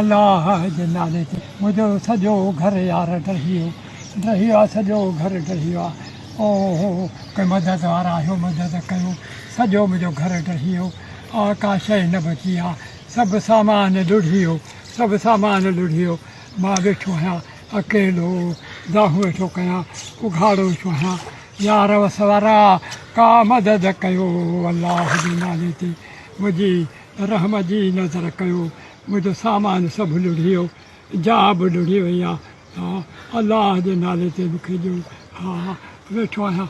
الله جي نالي تي منهنجو سڄو گهر يار ڊهي ويو ڊهي ويو آهي سڄو گهر ڊهي ويو آهي او هو ڪي مدد وارا آهيو مدد ڪيو سڄو منهنجو گهر ڊهي ويو آهي ڪا شيء نه بچي آهي سڀ سامان لڙهي ويو سڀ سامان لڙهي ويو مان ويٺو آهيان اڪيلو، دانهون ويٺو ڪيان اگهاڙو ويٺو آهيان، يار وس وارا ڪا مدد ڪيو، الله جي نالي تي منهنجي رحم جي نظر ڪيو، منهنجو سامان سڀ لڙهي ويو، جاء به لڙهي وئي آ، الله جي نالي تي مون کي ڏيو، ها ويٺو آهيان.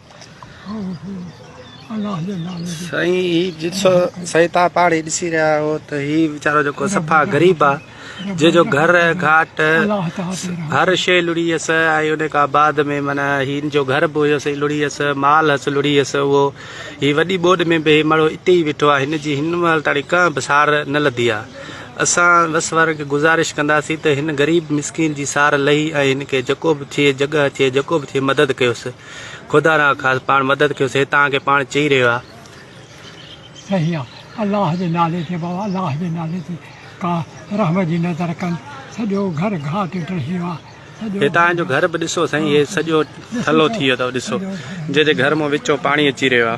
سائين هي جسو سائين تان پاڻ هي ڏسي رهيا آهيو ته هي ويچارو جيڪو صفا غريب آ جي جو گهر گهاٽ هر شي لڙي هيس ۽ ان کان بعد ۾ معنی هن جو گهر به هيس لڙي هيس مال هيس لڙي هيس اهو هي وڏي ٻوڏ ۾ به هي ماڻهو اتي ئي ويٺو آ هن جي هن مهل تاڻي ڪانه به سار نه لڌي آ اسان وس وارن کي گزارش ڪنداسين ته هن غريب مسڪين جي سار لهي ۽ هن کي جيڪو به ٿئي جڳهه ٿئي جيڪو به ٿئي مدد ڪيوس خدا را خاص پاڻ مدد ڪيو سي تان کي پاڻ چئي رهيو آ. صحيح آ الله جي نالي تي بابا الله جي نالي تي ڪا رحم جي نظر ڪن سڄو گهر گهاٽ ڊهي ويو آ سڄو هي تان جو گهر به ڏسو سائين هي سڄو ٿلو ٿي ويو اٿو ڏسو جي جي گهر مون وچون پاڻي اچي رهيو آ.